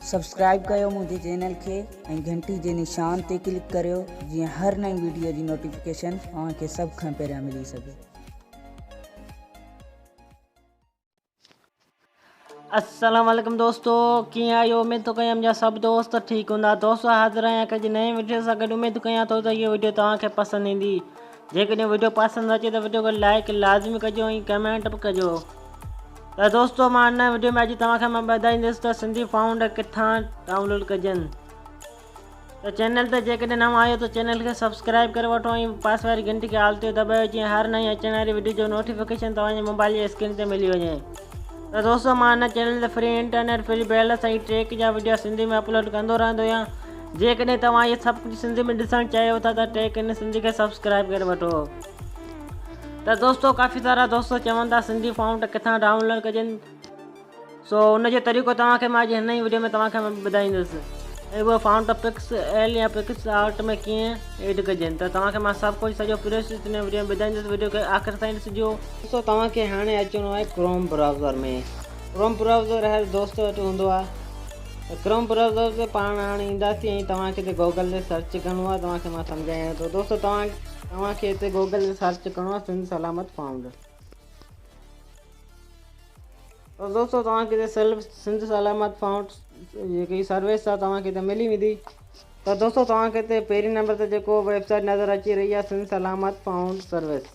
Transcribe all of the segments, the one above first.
Subscribe ڪيو منهنجي channel کي ۽ گهنٽي جي نشان تي ڪلڪ ڪريو جيئن هر نئين ويڊيو جي نوٽيفڪيشن اوهان کي سڀ کان پهريان ملي سگهي. السلام عليڪم دوستو ڪيئن آهيو اميد ٿو ڪيان منهنجا سڀ دوست ٺيڪ هوندا دوستو حاضر آهيان هڪ جي نئين وڊيو سان گڏ اميد ڪيان ٿو ته هيء وڊيو توهان کي پسند ايندي جيڪڏهن وڊيو پسند اچي ته وڊيو کي لائيڪ لازمي ڪجو ۽ ڪمينٽ به ڪجو ته دوستو مان هن وڊيو ۾ اڄ توهان کي مان ٻڌائيندس ته سنڌي فائونڊ ڪٿان ڊائونلوڊ ڪجن ته چينل تي جيڪڏهن نئون آهيو ته چينل کي سبسڪرائب ڪري وٺو ۽ پاسي واري گهنٽي کي آل تي دٻايو جيئن هر نئين اچڻ واري وڊيو جو نوٽيفڪيشن توهان جي موبائل جي اسڪرين تي ملي وڃي روزمانه چينل تي free internet, free balance ۽ tech جا وڊيو سنڌي ۾ اپلوڊ ڪندو رهندو آهيان. جيڪڏهن توهان اهي سڀ ڪجهه سنڌي ۾ ڏسڻ چاهيو ٿا ته ٽيڪ ان سنڌي کي سبسڪرائيب ڪري وٺو. ته دوستو ڪافي سارا دوست چون ٿا سنڌي فونٽ ڪٿان ڊائونلوڊ ڪجن سو ان جو طريقو توهان کي مان اڄ هن ئي وڊيو ۾ توهان کي مان ٻڌائيندس ۽ اهو فونٽ پڪس ايل يا پڪس آرٽ ۾ ڪيئن ايڊ ڪجن ته توهان کي مان سڀ ڪجهه سڄو پروسيس هن وڊيو ۾ ٻڌائيندس وڊيو کي آخر تائين ڏسجو. دوستو توهان کي هاڻي اچڻو آهي ڪروم براوزر ۾ ڪروم براوزر هر دوست وٽ هوندو آهي ته ڪروم براوزر تي پاڻ هاڻي اينداسي ۽ توهان کي هتي گوگل تي سرچ ڪرڻو آهي توهان کي مان سمجهايان ٿو دوستو توهان توهان کي هتي گوگل تي سرچ ڪرڻو آهي سنڌ سلامت فائونڊ تو دوستو توهان کي سلف سنڌ سلامت فائونڊ جيڪي سروس آهي توهان کي هتي ملي ويندي تو دوستو توهان کي هتي پهرين نمبر تي جيڪو ويب سائيٽ نظر اچي رهي آهي سنڌ سلامت فائونڊ سروس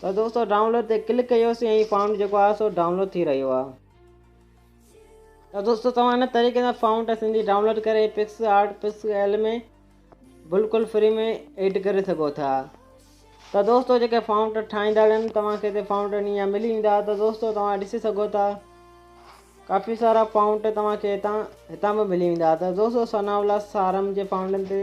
ته دوستو ڊائونلوڊ تي ڪلڪ ڪيوسي ۽ فانٽ جيڪو آهي سو ڊائونلوڊ ٿي رهيو آهي ته دوستو توهان هن طريقي سان فانٽ سنڌي ڊائونلوڊ ڪري پڪس آرٽ پڪس ايل ۾ بلڪل فري ۾ ايڊ ڪري سگهو ٿا ته دوستو جيڪي فانٽ ٺاهيندا آهن توهان کي هتي فانٽ ڏينهن ملي ويندا ته دوستو توهان ڏسي سگهو ٿا ڪافي سارا فانٽ توهان کي هتان هتان به ملي ويندا ته دوستو ثناء الله سارم جي فانٽن تي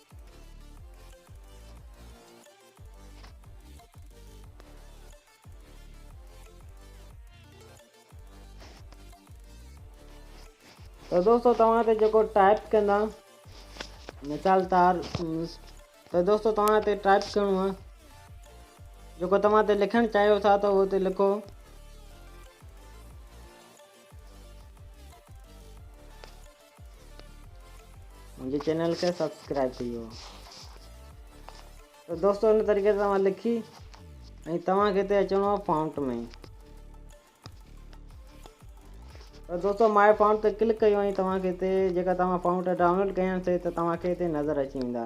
ته دوستو توهان تي جيڪو ٽائپ ڪندا مثال طور ته دوستو توهان تي ٽائپ ڪرڻو آهي جيڪو توهان تي لکڻ چاهيو ٿا ته اهو تي لکو منهنجي چينل کي سبسڪرائب ڪيو ته دوستو ان طريقي سان مان لکي ۽ توهان کي هتي اچڻو آهي فونٽ ۾ ته دوستو ماء فونٽ تي ڪلڪ ڪيو ۽ توهان کي هتي جيڪا توهان فونٽ ڊائونلوڊ ڪيا آهن سي ته توهان کي هتي نظر اچي ويندا